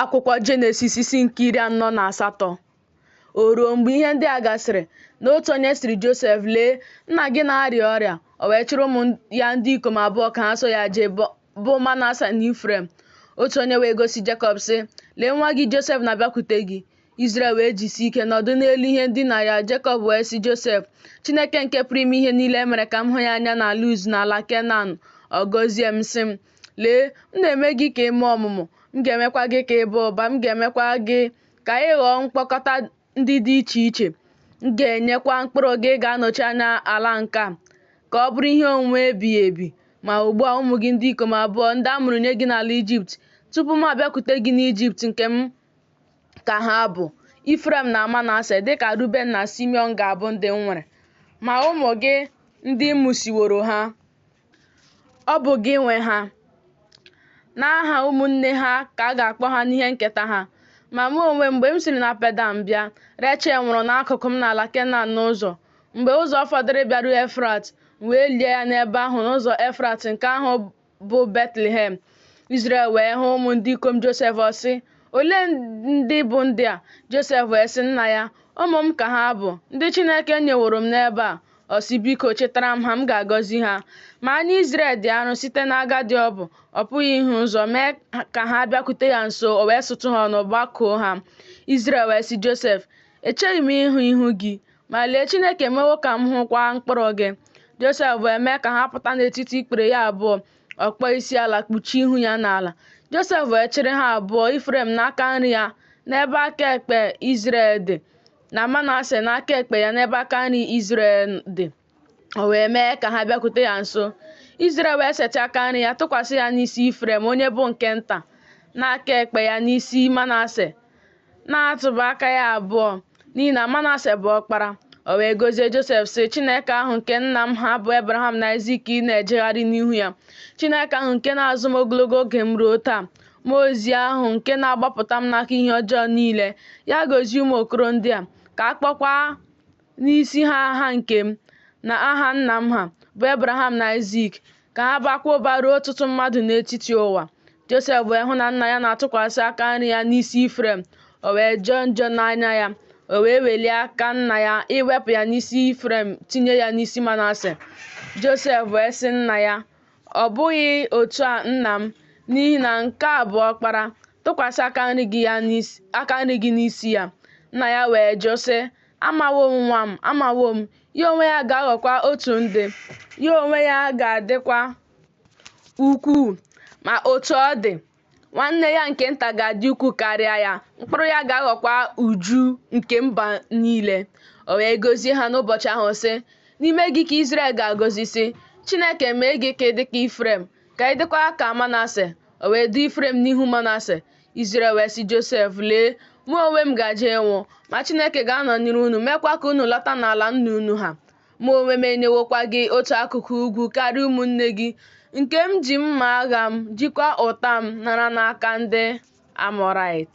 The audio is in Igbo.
akwụkwọ jenesis isi nke iri anọ na asatọ o ruo mgbe ihe ndị a gasịrị na otu onye sịrị josef lee nna gị na-arịa ọrịa o wee chịrị ụmụ ya ndị ikom abụọ ka ha so ya jee bụ manase na ifrem otu onye wee gosi jekọb sị lee nwa gị josef na-abịakwute gị Izrel wee jisie ike nọdụ n'elu ihe ndina ya Jekọb wee sị Josef Chineke nke pụrụ ime ihe niile mere ka m hụ ya anya na Luz n'ala Kenan ọ gọzie m sị m Lee, m na-eme gị ka ị mụọ ọmụmụ, m ga-emekwa gị ka ị baa ụba, m ga-emekwa gị ka ị ghọọ mkpokọta ndị dị iche iche. M ga-enyekwa mkpụrụ gị ga-anọchi anya ala nke a, ka ọ bụrụ ihe onwunwe ebighị ebi. Ma ugbu a, ụmụ gị ndị ikom abụọ, ndị a mụrụ nye gị n'ala Ijipt, tupu m abịakwute gị n'Ijipt nke m, ka ha bụ, Ifrem na Manase, dịka Ruben na Simiọn ga-abụ ndị m nwere. Ma ụmụ gị ndị mụsiworo ha, Ọ bụ gị nwe ha. N'aha ụmụnne ha ka a ga-akpọ ha n'ihe nketa ha. Ma mụ onwe m mgbe m siri na Pedan bịa, Rechel nwụrụ n'akụkụ m n'ala Kenan n'ụzọ. Mgbe ụzọ fọdụrụ bịaru Efrat, m wee lie ya n'ebe ahụ n'ụzọ Efrat nke ahụ bụ Betlehem. Izrel wee hụ ụmụ ndị ikom Josef ọ sị, Olee ndị bụ ndị a? Josef wee sị nna ya, Ụmụ m ka ha bụ, ndị Chineke nyeworo m n'ebe a. Ọ sị, Biko, chịtara m ha, m ga-agọzi ha. Ma anya Izrel dị arụ site n'agadi ọ bụ, ọ pụghị ịhụ ụzọ, mee ka ha bịakwute ya nso, o wee sutu ha ọnụ, gbakụọ ha. Izrel wee sị Josef, Echeghị m ịhụ ihu gị, ma lee, Chineke emewo ka m hụkwa mkpụrụ gị. Josef wee mee ka ha pụta n'etiti ikpere ya abụọ, ọ kpọọ isi ala kpuchie ihu ya n'ala. Josef wee chịrị ha abụọ, Ifrem n'aka nri ya, n'ebe aka ekpe Izrel dị. na Manase n'aka ekpe ya n'ebe aka nri Izrel dị o wee mee ka ha bịakwute ya nso Izrel wee setị aka nri ya tụkwasị ya n'isi Ifrem onye bụ nke nta na aka ekpe ya n'isi Manase na-atụba aka ya abụọ n'ihi na Manase bụ ọkpara o wee gọzie Josef sị Chineke ahụ nke nna m ha bụ Abraham na Aịzik na-ejegharị n'ihu ya Chineke ahụ nke na-azụ m ogologo oge m ruo taa Mmụọ ozi ahụ nke na-agbapụta m n'aka ihe ọjọọ niile, ya gọzie ụmụ okoro ndị a, ka a kpọkwa n'isi ha aha nke m na aha nna m ha, bụ Ebraham na Aịzik, ka ha bakwa ụba ruo ọtụtụ mmadụ n'etiti ụwa. Josef wee hụ na nna ya na-atụkwasị aka nri ya n'isi Ifrem, o wee jọọ njọ n'anya ya. O wee welie aka nna ya iwepụ ya n'isi Ifrem tinye ya n'isi Manase. Josef wee sị nna ya, Ọ bụghị otu a nna m, n'ihi na nke a bụ ọkpara, tụkwasị aka nri gị n'isi ya. Nna ya wee jụ sị, Amawo m nwa m, amawo m, ya onwe ya ga-aghọkwa otu ndị, ya onwe ya ga-adịkwa ukwuu. Ma otu ọ dị, nwanne ya nke nta ga-adị ukwuu karịa ya mkpụrụ ya ga-aghọkwa uju nke mba niile o wee gọzie ha n'ụbọchị ahụ sị n'ime gị ka Izrel ga-agọzi sị Chineke mee gị ka ị dị ka Ifrem ka ị dịkwa ka Manase o wee doo Ifrem n'ihu Manase Izrel wee sị Josef lee mụ onwe m gaje ịnwụ ma Chineke ga-anọnyere unu meekwa ka unu lọta n'ala nna unu ha Mụ onwe m enyewokwa gị otu akụkụ ugwu karịa ụmụnne gị, nke m ji mma agha m, jikwa ụta m nara n'aka ndị Amọraịt.